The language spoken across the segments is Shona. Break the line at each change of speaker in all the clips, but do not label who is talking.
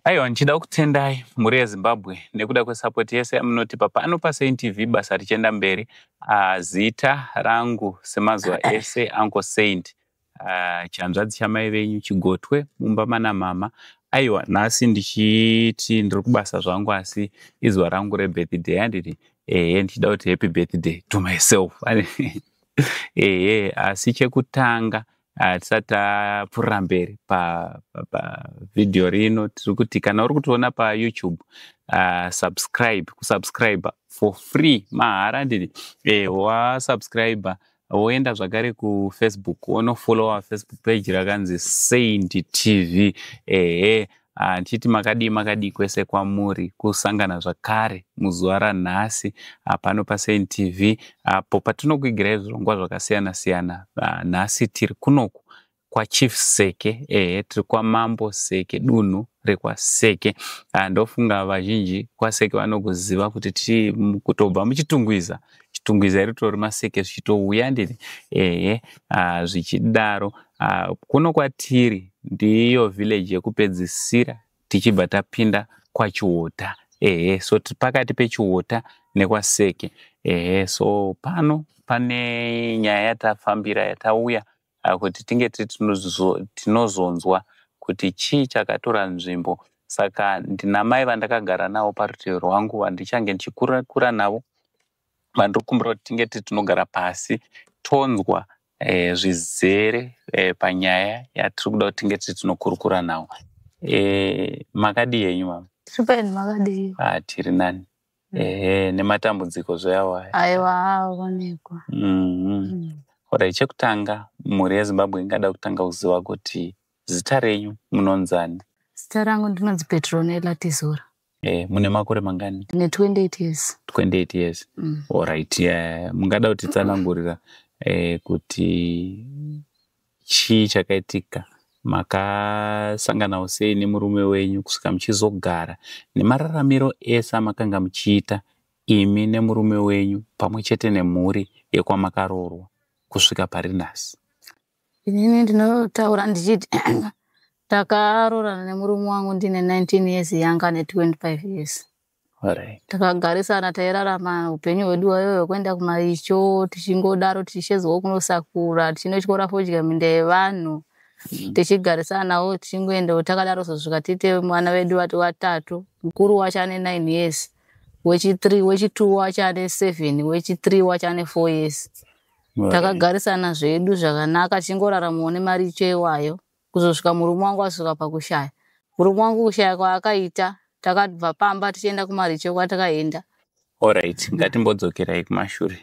Aiwa, ndichida kutendai mhuri yeZimbabwe nekuda kwesapoti yese yamunotipa pano paSaint TV basa richienda mberi. Uh, zita rangu semazuva ese Uncle Saint uh, chanzvadzi chamai venyu Chigotwe mumba mana mama. Aiwa, nhasi ndichiti ndiri kubasa zvangu asi izuva rangu rebirthday handiti ehe ndichida kuti happy birthday to myself ehe asi chekutanga Ah, tisati tapfuurira mberi pavhidhiyo pa, pa rino tiri kuti kana uri kutiona payoutube uh, subscribe kusubscribe for free mahara ndini eh, wasubscribe woenda zvakare kufacebook wonofollowa facebook page rakanzi saint tv ehe Ah, ndichiti makadii makadii kwese kwamuri kusangana zvakare muzuva ranhasi ah, pano pasaint tv apo patinokuigirai zvirongwa zvakasiyana siyana ah, nhasi tiri kunoku kwachief seke ehe tiri kwamambo seke dunhu rekwaseke ndofunga vazhinji kwaseke vanokuziva kuti tiri kutobva muchitungwiza chitungwiza ritori maseke zvichitouya ndiri ehe ah, zvichidaro ah, kuno kwatiri ndiyo village yekupedzisira tichibva tapinda kwachiwota ehe so tiri pakati pechiwota nekwaseke ehe so pano pane nyaya yatafambira yatauya ah, kuti tinge tinozonzwa kuti chii chakatora nzvimbo saka ndinamai vandakagara navo parutivi rwangu vandichange ndichikurakura navo vandiri kumbira kuti tinge tiri tinogara pasi tonzwa e, zvizere e, panyaya yatiri kuda kuti tinge tiri tinokurukura navo e, makadii henyu mama super makadii
ah, tiri nani
Mm. ehe nematambudziko zveawaya aiwa aonekwa
Mhm.
Alright, chekutanga mhuri yezimbabwe ingada kutanga kuziva kuti zita renyu munonzani zita rangu
ndinonzi petronella tizora e, mune makore
mangani ndine 28
years 28 years
Mm. Alright, eh, mungada kutitsanangurira eh, kuti chii chakaitika makasanganawo sei nemurume wenyu kusvika muchizogara nemararamiro ese amakanga muchiita imi nemurume wenyu pamwe chete nemhuri yekwamakaroorwa kusvika pari nhasi inini
ndinotaura ndichiti takaroorana nemurume wangu ndine 19 years yanga ne 25 years
takagarisana
tairarama upenyu hwedu wayo wekuenda kumaicho tichingodaro tichishezwawo kunosakura tichinotyora fodya minda yevanhu mm. tichigarisanawo tichingoendawo takadaro zosvika tiite mwana vedu vati watatu mukuru wacho ane nine years wechithree wechitwo wacho ane seven wechithree wacho ane four years takagarisana zvedu zvakanaka tichingoraramawo nemari icho iwayo kuzosvika murume wangu asvika pakushaya murume wangu kushaya kwaakaita takabva pamba tichienda kumaricho kwatakaenda orit mm.
ngatimbodzokerai kumashure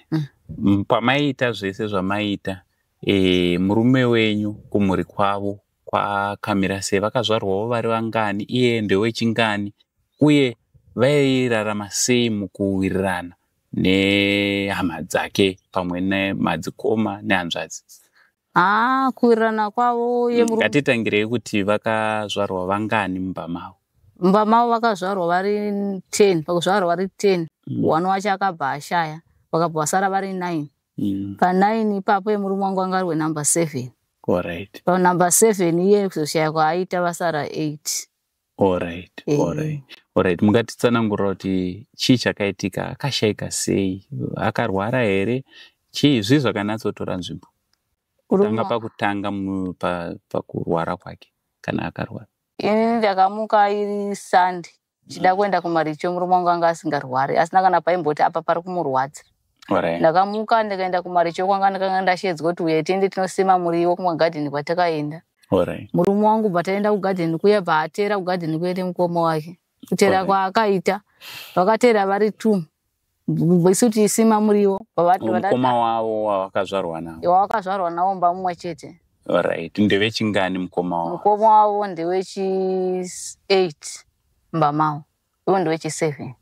mm. pamaiita zvese zvamaiita e, murume wenyu kumhuri kwavo kwakamira sei vakazvarwawo vari vangani iye ndewechingani uye vairarama sei mukuwirirana nehama dzake pamwe nemadzikoma nehanzvadzi haa ah,
kuwirirana kwavo uye mm, ngatitangirei kuti
vakazvarwa vangani mumba mavo mumba mavo
vakazvarwa vari ten pakuzvarwa vari ten mm. one wacho akabva ashaya vakabva vasara vari nine mm. panine ipapo yemurume wangu anga ari wenumber seven
panumber seven
iye kuzoshaya kwaaita vasara eight Alright,
Eh. alright, alright. Mungatitsanangurira kuti chii chakaitika, akashaika sei, akarwara here, chii, zvii zvakanatsotora nzvimbo tanga Kurumwa. pakutanga mu- pa- pakurwara kwake kana akarwara. Ini ndakamuka
iri Sunday ndichida kuenda kumaricho murume wangu anga asingarwari asina kana paimboti apa pari kumurwadza. ndakamuka
ndikaenda
kumaricho kwanga ndakanga ndashedzwa kuti uye tiende tinosima muriwo kumagadheni kwatakaenda murume
wangu bva taenda
kugadheni kuya bva atera kugadheni kuya nemukoma wake kutera kwaakaita vakatera vari two isu tiisima muriwo mukoma wavo
wavakazvarwa navo wavakazvarwa navo mba mumwe
chete right
ndevechingani mukoma wavo mukoma wavo ndewechi
eight mba mavo iwo ndowechiseven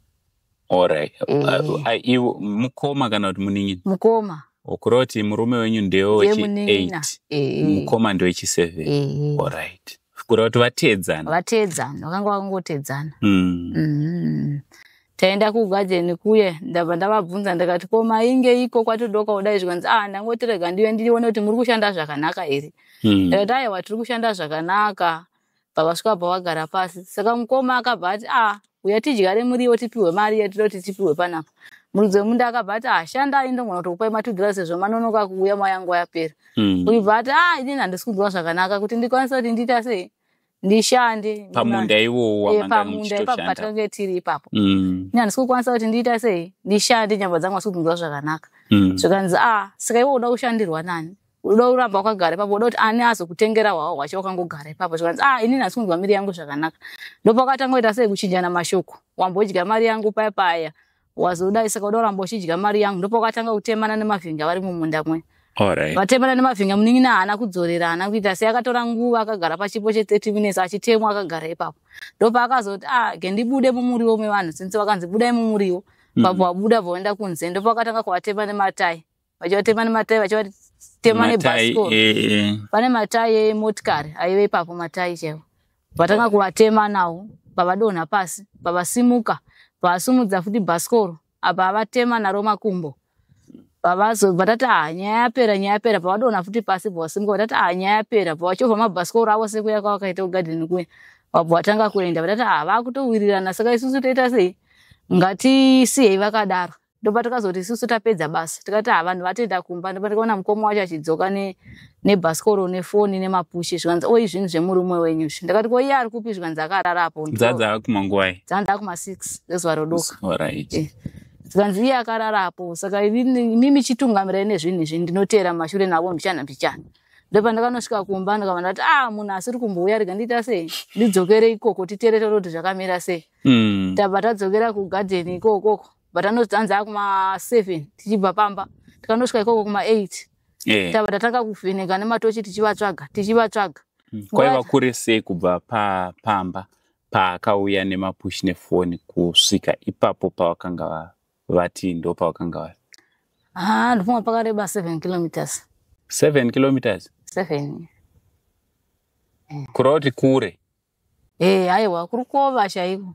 orit
eh. ivo mukoma kana kuti munin'ina mukoma kureva
kuti murume
wenyu ndewe wechi8 eh. mukoma ndewechi7 eh. orit kureva kuti vateedzana vateedzana vakanga
vakangoteedzana hmm. mm-hmm. taenda kugajeni kuye ndabva ndavabvunza ndikati ko mainge iko kwatodoka kudai zvikanzi a ah, ndangotirega ndive ndirione kuti muri kushanda zvakanaka here hmm. ndikati aiwa tiri kushanda zvakanaka vakasvika pa vagara pasi saka mukoma akabva ati a ah, uya tidyare muriwo tipihwe mari yatida kuti tipihwe panapa muridzi wemunda akabva ati ashandai ah, ndongona kutokupai matudhira sezvo manonoka kuuya mayangu yapera hmm. uibva ati a ah, inini handisi kunzwa zvakanaka kuti ndikwanisa kuti ndiita sei ndishande pamunda iwowo
eh, pamunda ipapo patinenge
tiri ipapo hmm. ini handisi kukwanisa kuti ndiita sei ndishande nyamba dzangu asi kutinzwa zvakanaka hmm. zvikanzi a sika iwo uda kushandirwa nani unoda kuramba wakagara ipapo unoda kuti ani azokutengera hwawo hwacho wakangogara ipapo zvikanzi ah inini hasi kunzwa miri yangu zvakanaka ndopakatanga kuita sei kuchinjana mashoko wambodya mari yangu paya paya wazodai saka unoda kuramba uchidya mari yangu ndopakatanga kutemana nemavhinga vari mumunda mwe Alright. vatemana
nemavhinga
munin'ina haana kudzorera haana kuita sei akatora nguva akagara pachipo che 30 minutes achitemwa akagara ipapo ndopaakazoti ah gendibude mumuriwo mevanhu since vakanzi budai mumuriwo Mm. papo wabuda vaenda kunze ndopakatanga kuvatema nematai vachivatema nematai vachivatema nebasco eh, eh. pane matai emotikari aive ipapo matai chaivo vatanga kuvatema nawo pavadonha pasi pavasimuka pavasumudza futi bhasikoro apa avatema naro makumbo pavazo vatati ha ah, nyaya yapera nyaya yapera pavadonha futi pasi pavasimuka vatati ha ah, nyaya yapera pavachovha mabhasikoro avo sekuya kwavakaita kugadheni kuya vabva vatanga kuenda vatati ha ah, vakutowirirana saka isusu toita sei ngatisiyei vakadaro ndopa tikazoti isusu tapedza basa tikati ha vanhu vatoenda kumba ndopa tikaona mukoma wacho achidzoka nebhasikoro nefoni nemapushe zvikanzi oi zvinhu zvemurume wenyu izvi ndakati ko iye ari kupi zvikanzi akararapo dzanzi akumanguvai
dzanzi akuma six
ngezuva rodoka eh.
zvikanzi iye
akararapo saka imi michitungamirai nezvinhu izvi ndinoteera mashure navo mbichana mbichana ndopa ndakanosvika kumba ndikava ndati a ah, munhu asiri kumbouya rega ndiita sei ndidzokere ikoko titeere toro kuti zvakamira sei hmm. tabva tadzokera kugadheni ikokoko but anotanza akuma seven tichibva pamba tikanosvika ikoko kuma eight yeah. tava tatanga kuvheneka nematochi tichivatsvaga tichivatsvaga mm. kwaiva
kure sei kubva pa, pamba paakauya nemapush nefoni kusvika ipapo pavakanga vati ndo pavakanga vari ah, ndofunga
pakareba seven kilometers seven
kilometers seven kuroti kure Eh, haiwa
kurukova chaiko.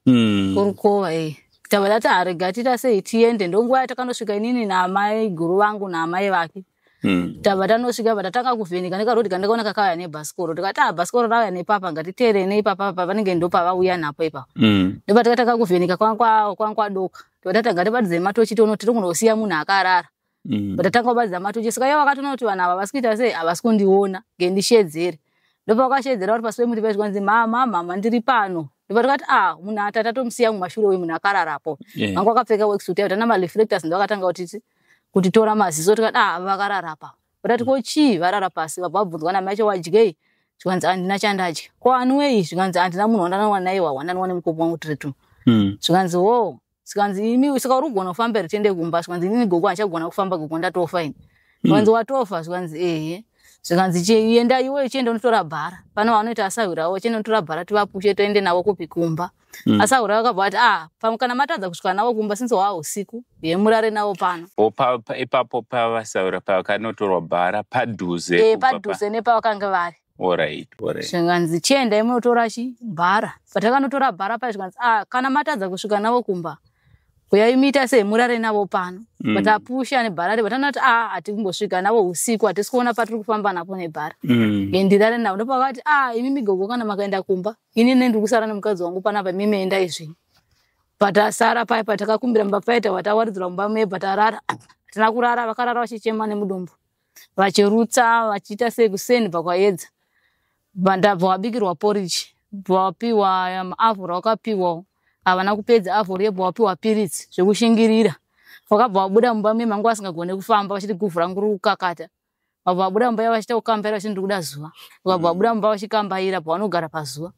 Mm. Kurukova eh. Tabata taharega tita sei tiende ndonguva yatakanosvika inini naamai guru vangu naamai vake. Mm. Tava tanosvika bva tatanga kuvheneka nekarodi kandakaona kakauya nebhasikoro tikati ah bhasikoro rauya nepapa ngatiteerei neipapa papa vanenge ndopavauya napo ipapa Mm. ndopa takatanga kuvheneka kwanga kwa- kwanga kwadoka tova tatanga tibatidze matochi tono tiri kunosiya munhu akarara mm. but atanga kubaridza matochi saka iye vakatoona kuti vanhu ava vasi kuita sei havasi kundiona nge ndishedzere ndopavakashedzera vari pasi pemuti vaiti kwanzi mama mama ndiri pano ndopatikati a ah, munhu ati atatomusiya mumashure uyu munhu akararapo yeah. vanga wakapfeka weksuit yaita namareflectors ndovakatanga kuti kutitora maziso tikati a ah, vakararapa vatati ko chii varara pasi vabva vabvunzwa nami acho wadyei zvikanzi handina chandadya ko anwei zvikanzi handina munhu wandanawa naye wawandanwa nemukopo wangu tiri tu hmm. zvikanzi wo zvikanzi imi saka uri kugona kufamba here tiende kumba zvikanzi inini gogo handichagona kufamba gogo ndatofa ini zvikanzi watofa zvikanzi ehe zvikanzi "Chi- enda iwe uchienda unotora bhara pane vanoita asahwirawo uchienda unotora bhara tivapushe toende navo kupi kumba Mm. asahwirawo akabva ati ah pamwe kana matadza kusvika navo kumba since hwaa usiku ye murare navo pano Wo pa- pa- ipapo
pavasaura pakanotorwa bhara padhuze Eh, kubva pa- padhuze nepavakanga
vari Alright, alright.
zvikanzi
chiendai munotora chi bhara patakanotora bhara paya zvikanzi ah, kana matadza kusvika navo kumba uyai muita sei murare navo pano Mm. but apusha nebhara ripa tanoti ah hatiri kumbosvika navo usiku hatisi kuona patiri kufamba napo nebhara Mm. Ye ndirare navo ndopavati ah imi migogo kana makaenda kumba ini ne ndiri kusara nemukadzi wangu panapa imi meenda izvi patasara paya patakakumbira mumba paita watawaridzirwa mumba meye patarara hatina kurara vakarara vachichema nemudumbu vachirutsa vachiita sei kuseni pakwayedza ndabva wabikirwa porridge bvawapiwa maavhura um, wakapiwawo havana kupedza avhura yebva wapiwa piritsi zvekushingirira vakabva vabuda mumba me mangu vasingagone kufamba vachiti guvhu rangu riri kukakata vabva vabuda mumba yavo vachiita kukambaira vachiti ndiri kuda zuva vakabva vabuda mumba vachikambaira pavanogara pazuva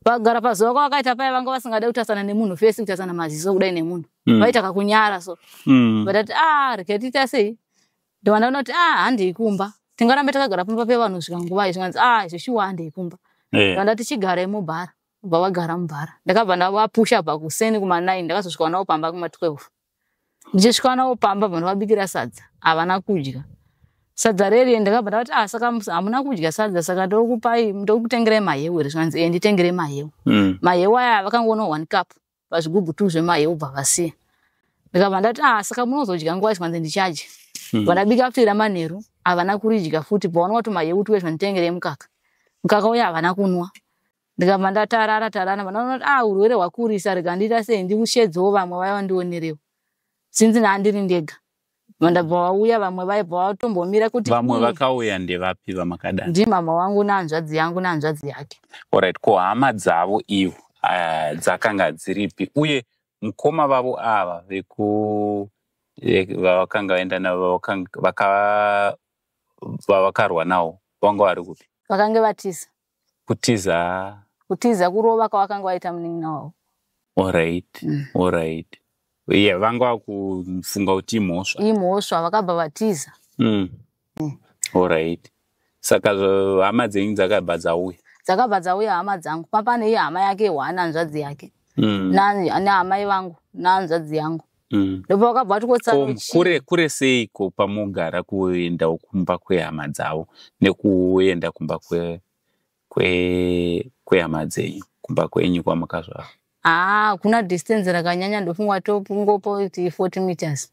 vagara pazuva kwavakaita paya vanga vasingade kutasana nemunhu fesi kutasana maziso kudai nemunhu mm. vaita kakunyara so mm. vatati a ah, rikatiita sei ndovana vanoti ah handei kumba tingarambe takagara pamba pevanhu svika nguva izvi kanzi ah izvo shuwa handei kumba eh. vanda tichigarai mubhara bva vagara mubhara ndakabva ndavapusha bva kuseni kumanai ndakazosvika navo pamba kuma 12 ndichisvika navo pamba bva ndavabikira sadza havana kudya sadza rerie ndakabva ndavati ah saka hamuna kudya sadza saka ndokupai ndokutengerai mahewu here zvikanzi e nditengerei mahewu mm. mahewu aya vakangoona one cup pazvigubhu tu zvemahi obva vasiya ndikabva ndati ah saka munozodya nguva zvikanzi ndichadya hmm. vandabika futi ramanheru havana kuridya futi paona wati mahewu tuwe zvanditengere yemukaka mukaka uya havana kunwa ndikabva ndatarara tarana vanaonati ah urwere hwakurisa rega ndiita sei ndiushedzewo vamwe vaya vandionerewo sinzi naandiri ndega vandabva vauya vamwe vaibva vatombomira kuti vamwe vakauya
ndevapi vamakadana ndimama wangu
nehanzvadzi yangu nehanzvadzi yake orit ko hama
dzavo ivo ah, dzakanga dziripi uye mukoma vavo ava veku vavakanga vaenda navo vavakarwa nawo vanga vari kupi vakange vatiza
kutiza kutiza
kurova kwavakanga vaita
munin'ina wavo orit
mm. orit ye vanga vakufunga kuti imhosva imhosva vakabva vatiza
mm. mm. orit
saka hama dzenyu dzakabva dzauya dzakabva dzauya hama dzangu
papane iyo hama yake one hanzvadzi yake mm. nehama ivangu nehanzvadzi yangu Mm. ndobva vakabva vati kotsano Ko, chii kure kure
seiko pamogara kuendawo kumba kwehama dzavo nekuenda kumba kwe kwe kwehama dzenyu kumba kwenyu kwamukazvara haa kuna
distance rakanyanya ndofunga tongopo kuti 40 meters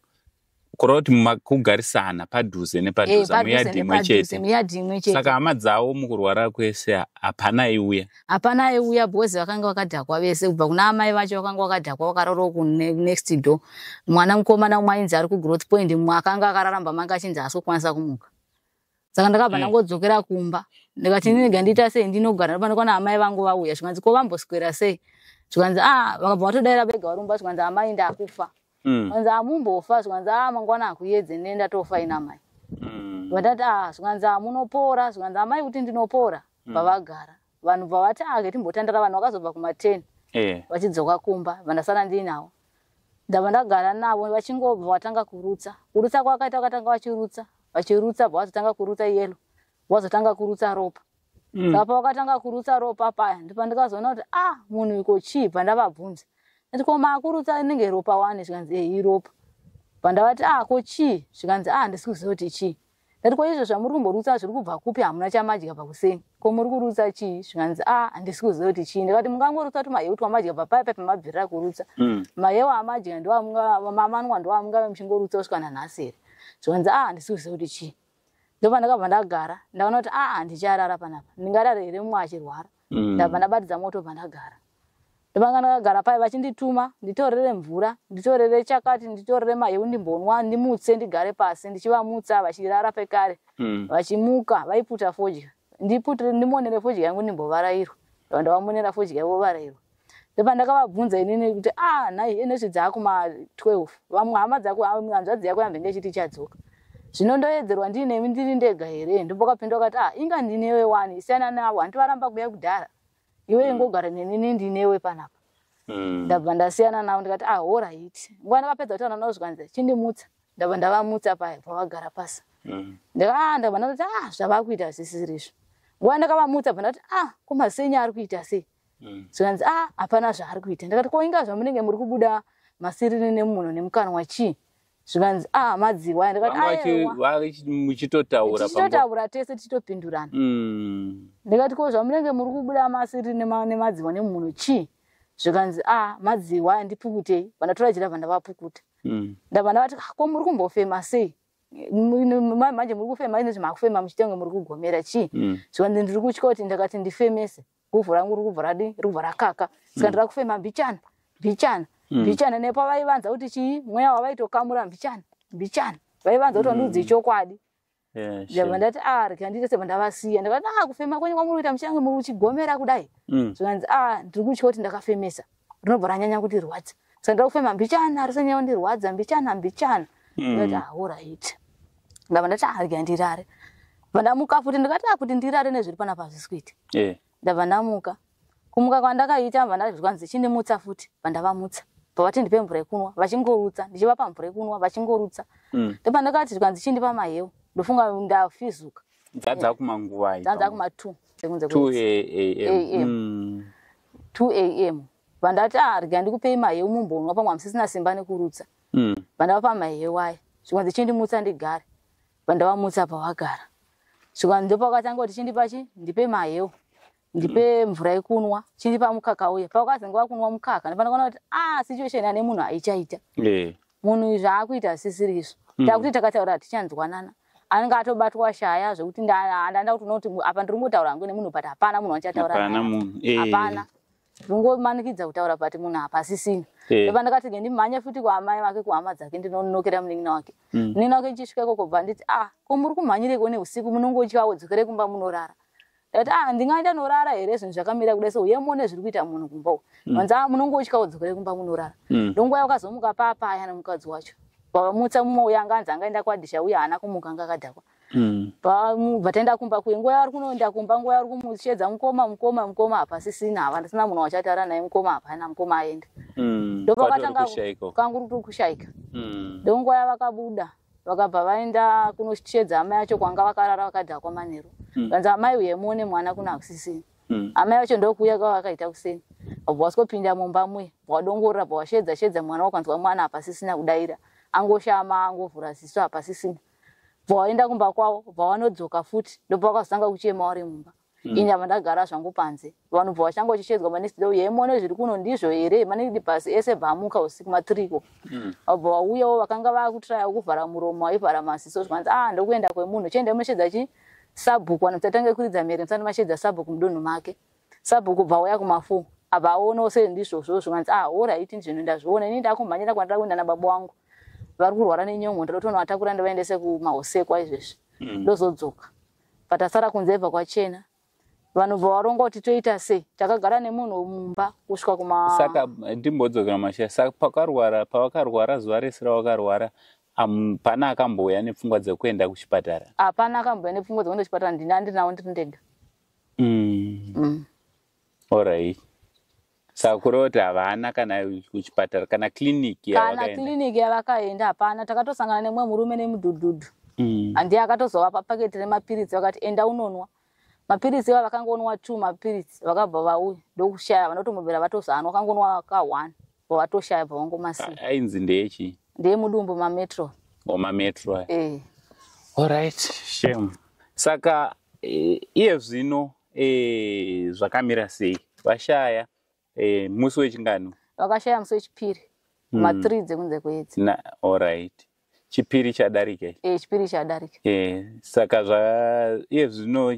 kureva kuti
muma- kugarisana padhuze Eh, nepadhuze padhuze muyadhi imwe nepadhuze, chete muyadhi imwe chete saka hama dzavo mukurwara kwese hapana iuya hapana aiuya
because vakanga vakadhakwa vese kubva kuna amai vacho vakanga vakadhakwa vakararawo kunext door mwana mukomana umwe ainzi ari kugrowth point mumwe akanga akararamba manga achinzi haasi kukwanisa kumuka saka ndakabva mm. ndangodzokera kumba ndikati mm. ndinega ndiita sei ndinogara ndopandikwana amai vangu vauya zvikanzi ko vamboswera sei zvikanzi a ah, vakabva vatodaira vega varumba zvikanzi amai ndakufa mm. kwanzi amumbofa ah, zvikanzi a ah, mangwana akuyedze nene ndatofa ina mai mm. vatati a ah, zvikanzi a munopora zvikanzi amai kuti ndinopora mm. pavagara vanhu bvavati ake timbotandara vanhu vakazobva kumateni eh. vachidzoka kumba vandasara ndiinawo ndava ndagara navo vachingobva vatanga kurutsa kurutsa kwakaita vakatanga vachirutsa vachirutsa bva vazotanga kurutsa yelo vazotanga kurutsa ropa mm. saka pavakatanga kurutsa ropa paya ndipandikazoona kuti ah munhu iko chii pandavabvunza ati ko maakurutsa inenge ropa wani zvikanzi ehi ropa pandavati ah ko chii zvikanzi ah handisi kuziva kuti chii ndati ko izvo zvamuri kumborutsa zviri kubva kupi hamuna chamadya pakuseni ko muri kurutsa chii zvikanzi ah handisi kuziva kuti chii ndikati mungangorutsa kuti mahewu twamadya papaya paipa mabvirira kurutsa mm. mahewu amadya ndoamanwa ndoamungave muchingorutsa kusvika nanhasi here zvikanzi ah handisi kuziva kuti chii ndopandakabva ndagara ndakaona kuti aa ndicharara panapa ndingarare here mumwe achirwara mm. ndabva ndabatidza moto pandagara ndopanga ndakagara paye vachindituma nditorere mvura nditorere chakati nditorere mahi undimbonwa ndimutse ndigare pasi ndichivamutsa vachirara pekare mm. vachimuka vaiputa fodya ndimonere fodya yangu ndimbovarairwa ndavamonera fodya yavo varairwa ndopandakavabvunza inini kuti ah nhai enezvi dzaakuma 12 vamwe hama dzako hanzvadzi yako yambe ngechiti ichadzoka zvino ndoedzerwa ndiinemi ndiri ndega here ndombokapinda ukati ah inga ndinewe wani siyana navo handivaramba kuya kudhara iwe mm. ingogara nenini ndinewe panapa mm. ndabva ndasiyana navo ndikati ah horait nguva ndakapedza kutaura navo zvikanzi chindimutsa ndabva ndavamutsa paya pavagara pasi mm. ah, ndabva ndati ah zvavakuita zvisirizvo nguva ndakavamutsa bva ndati ah kumasenya ari kuita sei mm. zvikanzi a ah, hapana zvaari kuita ndikati ko inga zvamunenge muri kubuda masiriri nemuno nemukanwa chii zvikanzi a ah, madziwa
ndikatichitotaura
tese tichitopindurana mm. ndikati ko zvamunenge muri kubuda masiriri nemadziwa nemuno chii zvikanzi a ah, madziwa ndipukutei vandatora jirava ndavapukuta mm. ndava ndavati ko muri kumbofema sei manje muri kufema ine zvima kufema muchitenga muri kugomera chii mm. zvikanzi ndiri kutya kuti ndakati ndifemese guvhu rangu riri kubva radii riri kubva rakaka saka mm. ndira kufema mbichana mbichana mm. mbichana nepavaivanza kuti chii mweya wavaitokamura mbichana mbichana vaivanza kuti wandiudze chokwadi ndabva ndati a ah, rikandite sebva ndavasiya ndakati a ah, kufema kwenyu kwamuri kuita muchange muri uchigomera kudai zvikanzi a ah, ndiri kutya kuti ndakafemesa rinobva ranyanya kundirwadza saka ndiri kufema mbichana risanyanya kundirwadza mbichana mbichana Mm. ndati ahorit ndava ndati arya ndirare vandamuka futi ndikati "Ah, kuti ndirare nezviri panapa hazvisi kuita Eh. ndabva ndamuka kumuka kwandakaita bva ndati zvikanzi chindimutsa futi bva ndavamutsa bva vati ndipe mvura yekunwa vachingorutsa ndichivapa mvura yekunwa vachingorutsa Mm. ndobva ndakati zvikanzi chindipa mahewu ndofunga ndafizuka Dzadza
kumanguvai. dzanza kuma two dzekunze
two kwenzi. a.m. Eh, eh. Mm.
2 am vandati ah rega
ndikupei maheu mumbonwa pamwe hamusisina simba nekurutsa mm. vandavapa maheu aya zvikanzi chindimutsa ndigare vandavamutsa pavagara zvikanzi ndopakatanga kuti chindipa chi ndipe maheu ndipe mvura yekunwa chindipa mukaka uya pavakazenge vakunwa mukaka ndipandakaona kuti ah situation ane munhu haichaita yeah. munhu uyu zvaakuita asisiri isu hmm. takuti takataura hatichanzwanana anenge atobatwa shaya zvekuti ndanda kuti unoti apa ndiri kungotaura hangu nemunhu but hapana munhu wachataura eh. hapana ndingomanikidza kutaura but munhu apa asisina eh. pa ndakati ke ndimhanye futi kwaamai vake kuhama dzake ndinonokera munin'ina wake hmm. munin'ina wake ndichisvika ikoko bva nditi ah ko muri kumhanyireko neusiku munongotyawo dzokere kumba munorara Ndati ah ndingaita norara here zvinhu zvakamira kudai so uye muone zviri kuita munhu kumba uko. Mm. Vanzi ah munongo uchika udzokere kumba munorara. Mm. Ndongo yako kazomuka papa aya nomukadzi wacho. Baba mutsa mumwe uya anga anzi anga enda kwadisha uya hana kumuka anga kadhakwa. Mm. Ba vatenda kumba kuye nguva yari kunoenda kumba nguva yari kumushedza mukoma mukoma mukoma apa sisina havana sina munhu wachatara naye mukoma apa hana mukoma aende. Mm. Ndopakatanga kanguru kushaika. Mm. Ndongo yava kabuda. vakabva vaenda kunoshedza amai acho kwanga vakarara vakadhakwa manheru hmm. vanzi amai uye muone mwana kuna hakusisini hmm. amai vacho ndokuuya kwava vakaita kuseni vabva waswopinda mumba muye bwadongorora bwawashedza shedza mwana wakanzwa mwana hapasisina kudaira angoshama angovhura ziso hapasisina bvawaenda kumba kwavo bvawanodzoka futi ndobva wakazotanga kuchema wari mumba Mm. ini ava ndagara zvangu panze vanhu bva vachanga vachishedzwa manext day uyai muone zviri kuno ndizvo here manext pasi ese bva amuka usiku matiriko mm. vabva vauyawo vakanga vakutraya kuvhara muromo vaivhara maziso zvikanzi ah ndokuenda kwemunhu chiendai munoshedza chi sabhuku vanhu tatange kuridza mhere musati mashedza sabhuku mudunhu make sabhuku bva uya kumafo abva aonawo sei ndizvozvo zvikanzi ah orit ndizvino ndazviona ini ndakumhanyira kwandira kuenda nababa wangu vari kurwara nenyongo ndinotonovatakura ndivaendese kumahosekwa izvezvi mm. ndozodzoka mm. but asara kunze ibva kwachena vanobva varonga kuti toita sei takagara nemunhu mumba kusvika kumasaka eh, ndimbodzokera
mashaya saka pakarwara pavakarwara zuva rese ravakarwara hapana akambouya nepfungwa dzekuenda kuchipatara hapana akambouya
nepfungwa dzekuenda kuchipatara ndini andinawo ndiri ndega mm. mm.
Alright. Sakura kuti havana kana kuchipatara kana clinic kana clinic yavakaenda
hapana takatosangana nemwe murume nemudhudhudhu mm. handiye akatozovapa paketi remapiritsi vakati enda unonwa mapiritsi iva vakangonwa two mapiritsi vakabva vauya ndokushaya vanotomubvira vatozanwa vakangonwa ka one vavatoshaya bva vangomasiya ainzi ndechi
ndeye mudumbu mametro
omametro oh, e.
Eh. allright shame saka eh, iye zvino Eh, zvakamira sei vashaya eh, musi wechingano vakashaya musi wechipiri
hmm. mathree mm. dzekunze kwedzi na allright
chipiri chadarika e, chipiri chadarika
e, saka zva
iye zvino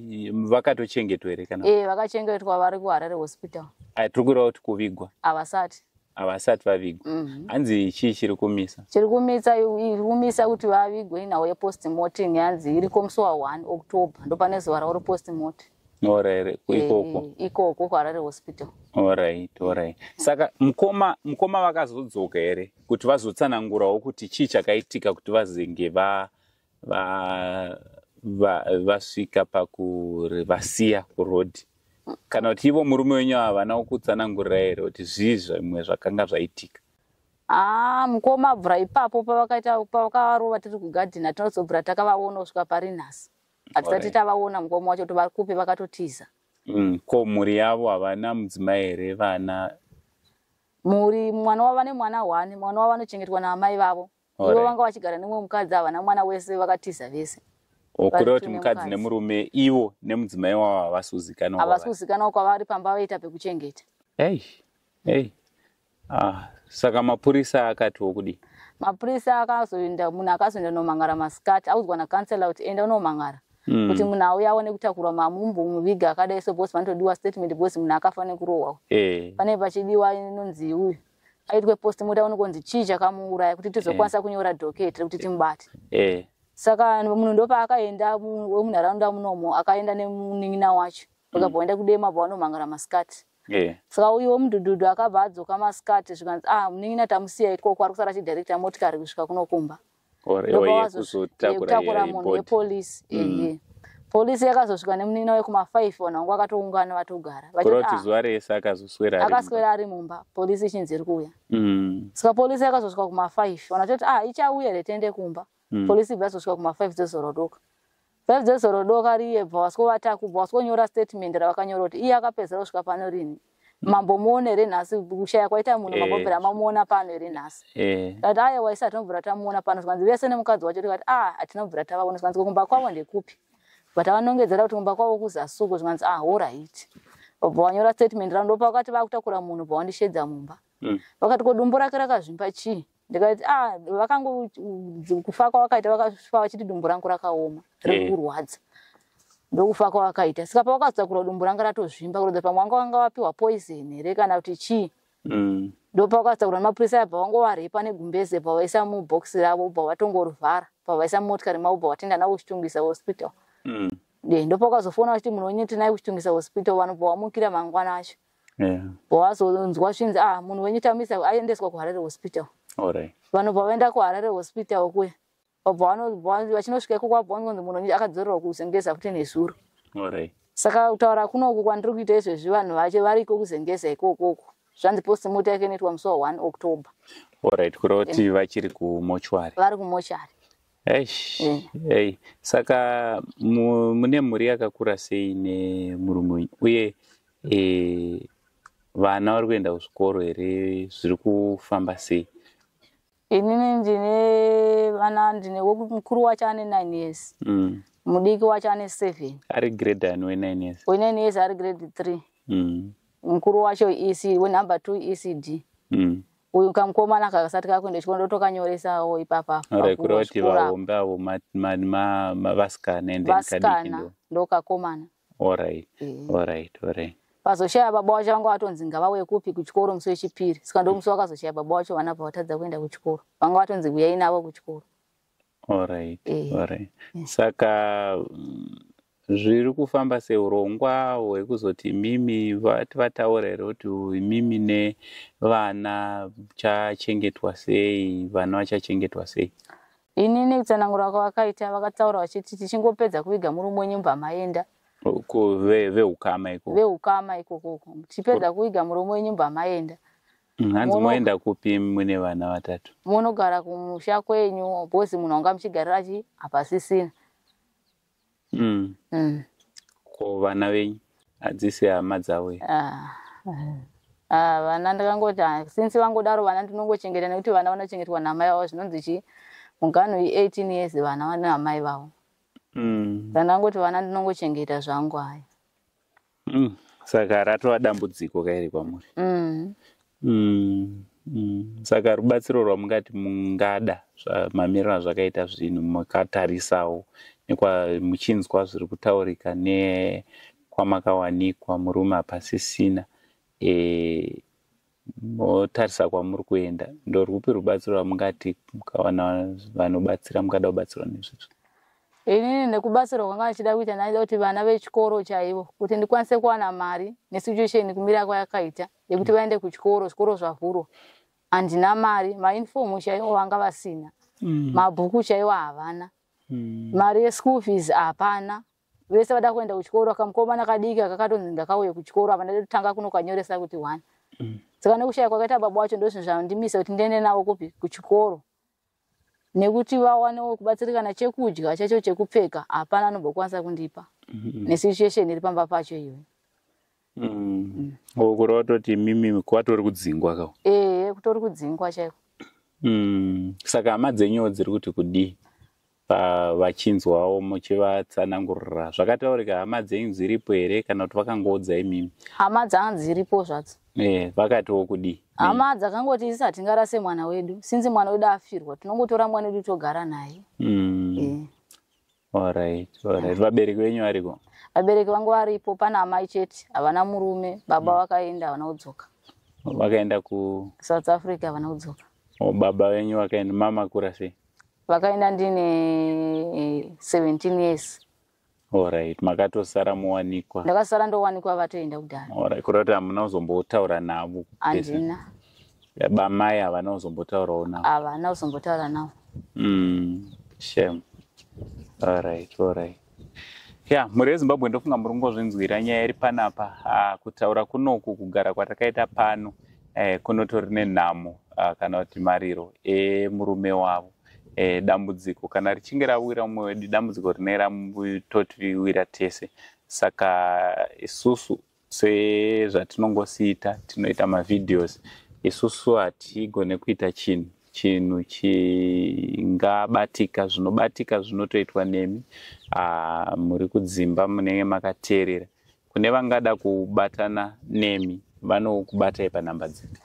vakatochengetwa here kana e, vakachengetwa vari kuharare
hospital tiri kureva kuti
kuvigwa havasati havasati vavigwa mhm. hanzi chii chiri kumisa chiri kumisa
iri kumisa kuti vavigwe inhau yepost mortem yanzi iriko musi wa 1 october ndopane zuva rauri post mortem orere
ikoko eh, ikoko
kuharare hospital orit
orit saka mukoma mukoma vakazodzoka here kuti vazotsanangurawo kuti chii chakaitika kuti vazenge va vasvika va, va pakurivasiya kurodhi kana kuti ivo murume wenyu havana kukutsanangurira here kuti zvii zvimwe zvakanga zvaitika aa ah,
mukoma abvura ipapo pavakaita pavakavarova tiri kugadhina tinozobvura takavaona kusvika pari nhasi hatisati tavaona mukoma wacho kuti vari kupi vakatotiza mm, ko
mhuri yavo havana mudzimai here vana
mhuri mwana wava nemwana one mwana wava anochengetwa naamai vavo ivo vanga vachigara nemumwe mukadzi havana mwana wese vakatiza vese kureva kuti
mukadzi nemurume ivo nemudzimai wavo havasi kuzikanwa havasi kuzikanwa kwavari
pamba vaita pekuchengeta ei ei
ah, saka mapurisa akatiwo kudii mapurisa
akazoenda munhu akazoenda unomangara masikati audzwa nacancela kuti enda unomangara mm. kuti munhu auya aone kutakurwa mamumbu muviga akadai so bcause vanotodiwa statement bcause munhu akafa nekurohwa hey. Eh. pane pachidiwa inonzi uyu aitwe post moda unokonzi chii chakamuuraya kuti tizokwanisa eh. kunyora docket rekuti timubate eh. saka munhu ndopaakaenda wemunharaunda munomo akaenda nemunin'ina wacho vakabva vaenda kudema bva vanomhangara masikati eh. saka uyu wemudhudhudhu akabva adzoka masikati zvikanzi ah munin'ina tamusiya ikoko ari kusara chidirecta motikari kusvika kunokumba yekuzotakura munhu yepolice mm. polisi yakazosvika nemunina wekuma five vanhu vangu vakatoungana vatogara ah, zuva rese
akazoswera akaswera ari
mumba polisi ichinzi iri kuuya mm. saka polisi yakazosvika kuma five vanhu vatoti a ah, ichauya here tiende kumba mm. polisi ibva yazosvika kuma five dzozorodoka Zvaibve zoro doka riyebva waskovata kubva waskonyora statement ravakanyora kuti iye akapedzera kusvika pano rini mambo muone here nhasi kushaya kwaita munhu mambo eh. bvira mamuona pano here nhasi eh. kati aye waisi hatinobvira tamuona pano zvikanzi vese nemukadzi wacho tikati a ah, hatinobvira tavaona zvikanzi kumba kwavo ndekupi but avanongedzera kuti kumba kwavo kuzasuko zvikanzi a ah, horit obva wanyora statement ravo ndopa vakati vakutakura munhu bva wandishedza mumba mm. vakati ko dumbu rake rakazvimba chii ndikati ah vakangokufa kwavakaita vakafa vachiti dumbu rangu rakaoma riri eh. kurwadza ndokufa kwavakaita saka pavakazotakura dumbu ranga ratozvimba kuratidza pamwe wanga wanga wapiwa poison here kana kuti chii mm. ndopavakazotakura nemapurisa aya pavangovarepa negumbeze pavaisa mubox ravo ubva vatongorivhara pavaisa motikari mavo ubva vatenda navo kuchitungisa hospital mm. ndopavakazofona vachiti munhu wenyu tinai kuchitungisa hospital vanobva wamukira mangwana acho wazonzwa zvinzi ah munhu wenyu tamisa aendeswa kuharare hospital vanobva vaenda kuharare hospital kuya vachinosvika iko kwabonzi munhu wenyu akadzorerwa kuzengeza kuti nezuro saka kutaura kunoku kwandiri kuita izvezvi vanhu vacho variko kuzengeza ikokoko zvanzi postmota yake inoitwa musi wa 1 october orit kureva
kuti vachiri kumochwari vari kumochwari
Eish, Eh. ei.
Saka mu- mune mhuri yakakura sei nemurume wenyu? Uye eh, vana vari kuenda kuzvikoro here zviri kufamba sei? inini
ndine vana ndine weku- mukuru wacho ane nine years Mm. mudiki wacho ane seven Ari grade ani
wenine years? wenine years ari grade
three Mm. mukuru wacho isi wenumber two ecd mm. uyu kamukomana kakasati kakuenda chikoro ndotokanyoresawo ipapa kureva kuti vaombe
avo vasikana ende vasikana ndokakomana
orit
orit orit vazoshaya
baba wacho vanga vatonzi ngavauye kupi kuchikoro musi wechipiri saka ndomusi wakazoshaya baba wacho vana bva vatadza kuenda kuchikoro vanga vatonzi huyai navo kuchikoro Alright,
eh. alright. Eh. Saka mm, zviri kufamba seurongwa hwekuzoti imimi vati vataura here kuti imimi nevana chachengetwa sei vana vachachengetwa sei ini
nekutsanangura kwavakaita vakataura vachiti tichingopedza kuviga murume wenyu mba maenda veukama ikoko veukama ikokoko tichipedza kuviga murume wenyu mba maenda Mm, hanzi
moenda kupi mune vana vatatu monogara kumusha
kwenyu bhozi munhu anga muchigarira chi hapasisina mm. mm.
ko vana venyu hadzisi hama dzavo ah, eh. ah,
vana ndakangoti ah, since vangodaro vana ndinongochengeta nekuti vana vanochengetwa namai vavo zvinonzi chii muganhu i-eighteen years vana vane amai vavo mm. ndandangoti vana ndinongochengeta zvangu haya mm. saka
ratova dambudziko kairi kwamuri mm. Mm. Mm. saka rubatsiro rwamungati mungada mamiriro azvakaita zvinhu makatarisawo nekwamuchinzwa zviri kutaurika nekwamakawanikwa murume hapasisina e, motarisa kwamuri kuenda ndorwupi rubatsiro rwamungati mukawana vanobatsira mukada kubatsirwa nezvizvo inini
nekubatsirwa kwanga vachida kuita ndaida kuti vana vechikoro chaivo kuti ndikwanise kuwana mari nesituation kumira kwayakaita yekuti vaende kuchikoro zvikoro zvavhurwa handina mari mainform chaivo vanga vasina mm. mabhuku chaivo havana mm. mari yeschool fees hapana vese vada kuenda kuchikoro akamukomana kadiki akakatonzi ndakauye kuchikoro apa ndadotanga kunokanyoresa kuti one mm. saka nekushaya kwakaita baba wacho ndozvinhu zvandimisa kuti ndiende navo kupi kuchikoro nekuti vawanewo kubatsirikana chekudya chacho chekupfeka hapana anobokwanisa kundipa mm-hmm. nesituation iri pamba pacho iyoyo Mm.
Oh, kureva toti imimi kwatori kudzingwa ka. Eh, kutori kudzingwa
chaiko. Mm.
Saka hama dzenyu dziri kuti kudii? vachinzwawo muchivatsanangurira zvakataurika hama dzenyu dziripo here kana kuti vakangoudza imimi hama dzanga dziripo
zvadzo e vakatiwo
kudii hama dzakangoti
isi hatingarase mwana wedu sinzi mwana wedu afirwa tinongotora mwana wedu togara naye mm. e.
Alright, alright. Vabereki venyu variko? Vabereki vangu
varipo, pana amai chete, havana murume, baba mm. vakaenda havana kudzoka. Vakaenda ku
South Africa havana
kudzoka. Oh, baba venyu
vakaenda, mama kura sei? Vakaenda ndine
17 years. Alright,
makatosara muwanikwa. Ndakasara ndowanikwa
vatoenda kudhara. Alright, kurota hamuna
kuzombotaura navo. Andina.
bamai
havana kuzombotaurawo navo havana kuzombotaura
navo mm,
shame alright alright ya mhuri yezimbabwe ndofunga muri kungozvinzwira nyaya iri panapa uh, kutaura kunoku kugara kwatakaita pano uh, kunotori nenhamo uh, kana kuti mariro emurume eh, wavo eh, dambudziko kana richinge rawira mumwe wedu dambudziko rinenge ramtotiwira tese saka isusu sezvatinongosiita tinoita mavideos isusu hatigone kuita chinhu chinhu chingabatika zvinobatika zvinotoitwa nemi ah, muri kudzimba munenge makateerera kune vangada kubatana nemi vanokubatai panhamba dzipi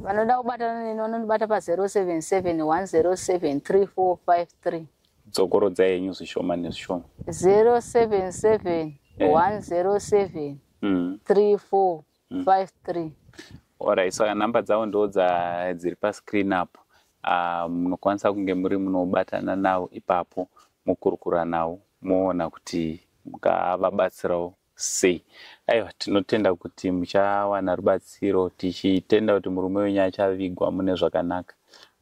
vanoda kubatana neni vanondibata pa 077 107 3453 dzokorodza
yenyu zvishoma nezvishoma 077 107 3453
orit saka
nhamba dzavo ndo dziri pascreen apo ah, munokwanisa um, kunge muri munobatana navo ipapo mokurukura navo moona kuti mukavabatsirawo sei aiwa tinotenda kuti muchawana rubatsiro tichitenda kuti murume wenyu achavigwa mune zvakanaka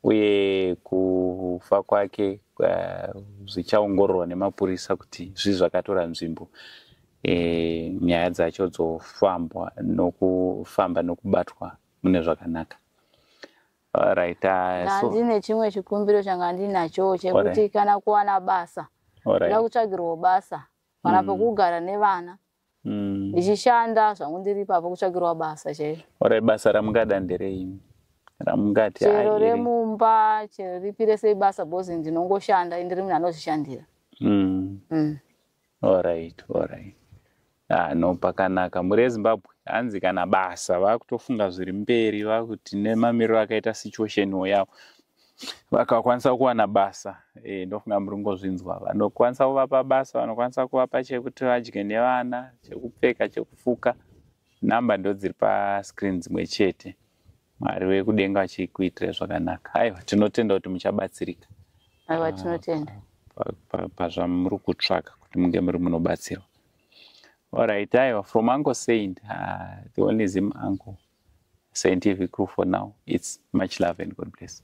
uye kufa kwake eh, zvichaongororwa nemapurisa kuti zvii zvakatora nzvimbo e, nyaya dzacho dzofambwa nokufamba nekubatwa mune zvakanaka right uh, so, ndine
chimwe chikumbiro changa ndinacho chekuti right. kana kuwana basa nda right. kutsvagirwa basa kana mm. pekugara nevana mm. ndichishanda zvangu ndiri ipapo kutsvakirwa basa chairo ora basa ramungada
ndereimi ramungati chero remumba
chero ripi rese ibasa bcoz ndinongoshanda ndiri munhu anozvishandira mm. mm.
orit orit ah, no pakanaka muri ezimbabwe hanzi kana basa vakutofunga zviri mberi vakuti nemamiriro akaita situation wo yavo vakakwanisa kuwana basa e, ndofunga muri kungozvinzwa vanokwanisa kuvapa basa vanokwanisa kuvapa chekuti vadye nevana chekupfeka chekufuka namba ndo dziri pascreen dzimwe chete mwari wekudenga vachikuitira zvakanaka aiwa tinotenda kuti muchabatsirika aiwa ah,
tinotenda
pazvamuri kutsvaka kuti munge muri munobatsirwa allright aiwa from uncle saint uh, the only zim uncle scientific crew for now its much love and god bless